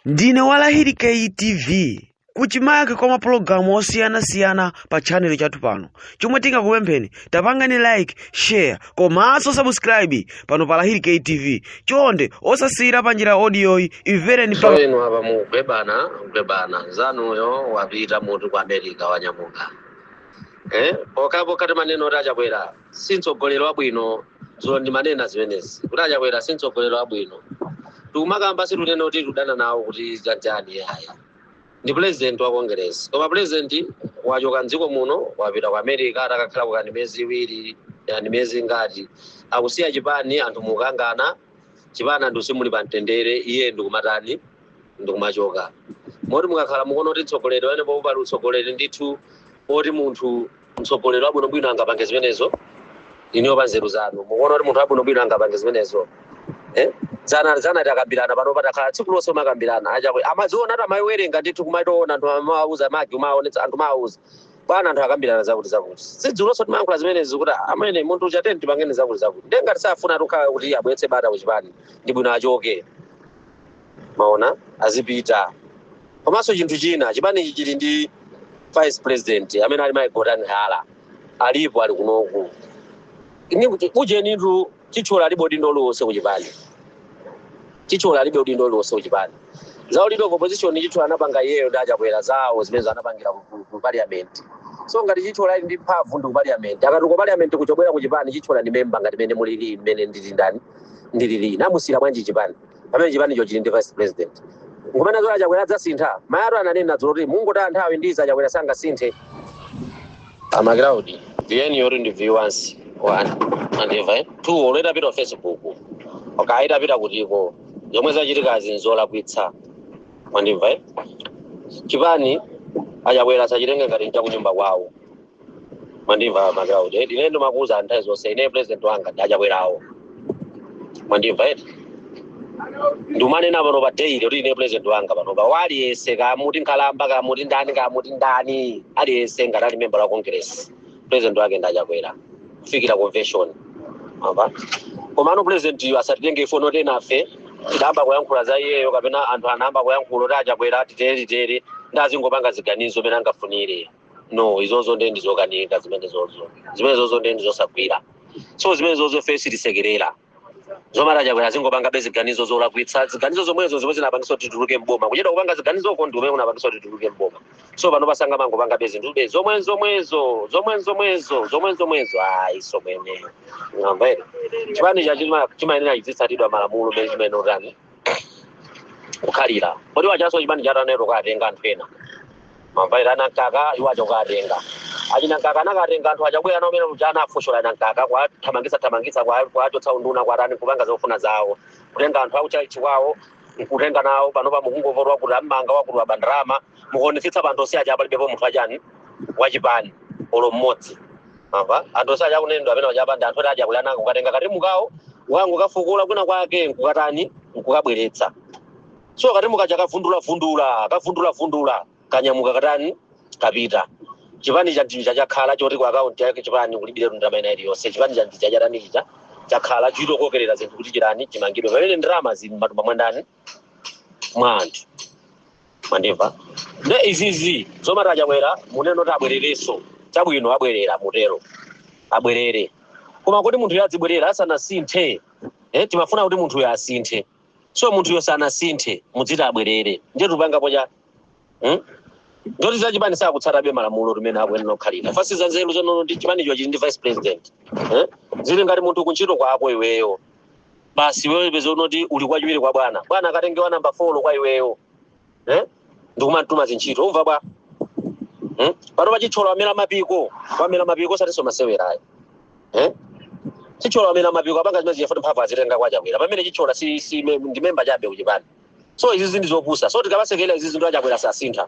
ndine wa lahiri ktv kuchimake kwa mapulogalamu osiyanasiyana pa chanelo chathu pano chomwe tingakupempheni tapangani like share komanso subscribe pano pa lahiri ktv chonde osasiyira pa njira odiyoyi imvereni pa so inu apa mukugwebana mugwebana nzanuyo wapita munthu ku america wanyamuka eh? pokhapokha timanena kuti achakwera si mtsogoleri wabwino dzulo ndimanena zimenezi kuti achakwera si mtsogoleri wabwino tikumakamba situnena kuti tudana nawo kuti chanjani iyayi ndi president wa congress koma president wachoka mdziko muno wapita ku america atakakhalako kaya ndi miyezi iwiri kaya ndi miyezi ingati akusiya chipani anthu mukangana chipani anthu simuli pa mtendere iye ndikumatani ndikumachoka moti mukakhala mukuona kuti mtsogoleri pamenepopo pali utsogoleri ndithu oti munthu mtsogoleri wabwinobwino angapange zimenezo inuyo pa nzeru zanu mukuona kuti munthu wabwinobwino angapange zimenezo Eh? dzana dzana takambirana pano patakhala tsiku lonse kumakambirana achakwera amaziona ati amaziwerenga ndithu kumaitoona anthu amawauza magi umaonetsa anthu amawauza bwana anthu akambirana zakuti zakuti si dzulonso timayankhula zimenezi kuti amene munthu uchateni tipangeni zakuti zakuti nde ngati safuna kukhala kuti abweretse bata kuchipani ndi bwino achoke maona azipita komanso chinthu china chipanichi chili ndi vice president amene ali mai gotani hara alipo ali kunoku Ni- ujenitu chithyola alibe udindo uliwonse kuchipani chithyola alibe udindo uliwonse kuchipani za uleader opposition chithyola anapanga iyeyo ndi achakwera zawo zimenezo anapangira ku- ku- ku parliament so ngati chithyola ali ndi mphamvu ndi ku parliament akati ku parliament kuchobwera kuchipani chithyola ndi memba ngati mene mulili mmene ndili ndani ndilili anamusiyira bwanji chipani pamene chipanicho chili ndi vice president nkumanena zoti achakwera adzasintha mayatu ananena dzulo kuti mungotaya nthawi ndi za chakwera sangasinthe amagraudi viyeni yoti ndi viwansi mwandimva eh? two olo itapita facebook kaya itapita kutiko zomwe zachitikazi nzolakwitsa mwandimva eh? chipani achakwera asachitenge ngati nchakunyumba kwawo mwandimva magraundi eti ine ndimakuuza anthu nthawi zonse ine president wanga ndi achakwerawo mwandimva eti ndimanena pano pa daily kuti ine president wanga pano wa aliyese kaya muti nkhalamba kaya muti ndani kaya muti ndani aliyese ngati ali member wa congress president wake ndi achakwera kufikira convention amba komano presidentiyu asatitenge ifoni oti enafe tidayamba kuyankhula za iyeyo kapena anthu anayamba kuyankhula oti achakwera titere titere nde azingopanga ziganizo mene angafunire no izozo nde ndizokanika zimenezozo zimenezozo nde ndizosagwira so zimenezozo ife sitisekerera zomati achakwera azingopangabe ziganizo zolakwitsa ziganizo zomwezo zomwe zinapangisa kuti tituluke mboma kuchedwa kupanga ziganizo uko ndi kumene kunapangisa kuti tituluke mboma so panopa sangamangopangabe zinthube zomwe zomwezo zomwe zomwezo zomwe zomwezo ayi somwene ngamba ere chipani cha chima- chimayenera chizitsatidwa malamulo mene chimene utani kukhalira kodi wachaso chipani cha tanero katenga anthu ena mamvaira ana mkaka iwo acho katenga achina mkaka anakatenga anthu a chakwera nawo mmene muja anafushora na mkaka kuwathamangisa thamangisa kuwa- kuwachotsa unduna kuwatani kupanga zofuna zawo kutenga anthu akutchalitchi kwawo nkutenga nawo panopa mukungovota wakuti ammanga wakuti waba ndalama mukuonetsetsa pa anthu onse aja palibepo munthu achani wachipani olo mmodzi apa anthu onse akunenedwa amene wachapa ndi anthu oti achakwera anangokatenga katimu kawo kungokafukula kwina kwake nkukatani nkukabweretsa so katimu kaja kavundulavundula kavundulavundula kanyamuka katani kapita chipani cha ndija chakhala choti ku akaunti ya kuchipani kulibire ndalama ina iliyonse chipani cha ndija chatani chija chakhala chitokokerera zinthu kuti chipani chimangidwe pamene ndalama zili m'matumba mwa ndani mwa anthu mwandimva nde izizi zomati achakwera munene kuti abwererenso chabwino abwerera mutero abwerere koma kuti munthuyo adzibwerera asanasinthe eh, timafuna kuti munthuyo asinthe so munthuyo sanasinthe mudziti abwerere ndiye tupangapo cha Hmm? Ndoti za chipani sakutsatabe malamulo mmene akuyenera kukhalira. Basi za nzeru zonono ndi chipanicho chili ndi vice president. Eh? Zili ngati munthu kuntchito kwako iweyo. Basi iweyo peza unoti uli wachiwiri kwa bwana. Bwana akatenge wa namba 4 kwa iweyo. Eh? Ndikumamtuma zintchito. Umva bwa. Hmm? Panopa Chithyola wamera mapiko. Wamera mapiko osatinso masewerayo. eh? chithyola wamera mapiko apanga zimenezi chifukwa choti mphamvu azitenga kwa chakwera pamene chithyola si, si me, ndi memba chabe kuchipani so izi ndi zopusa so tikamasekerera izi zinthu achakwera sasintha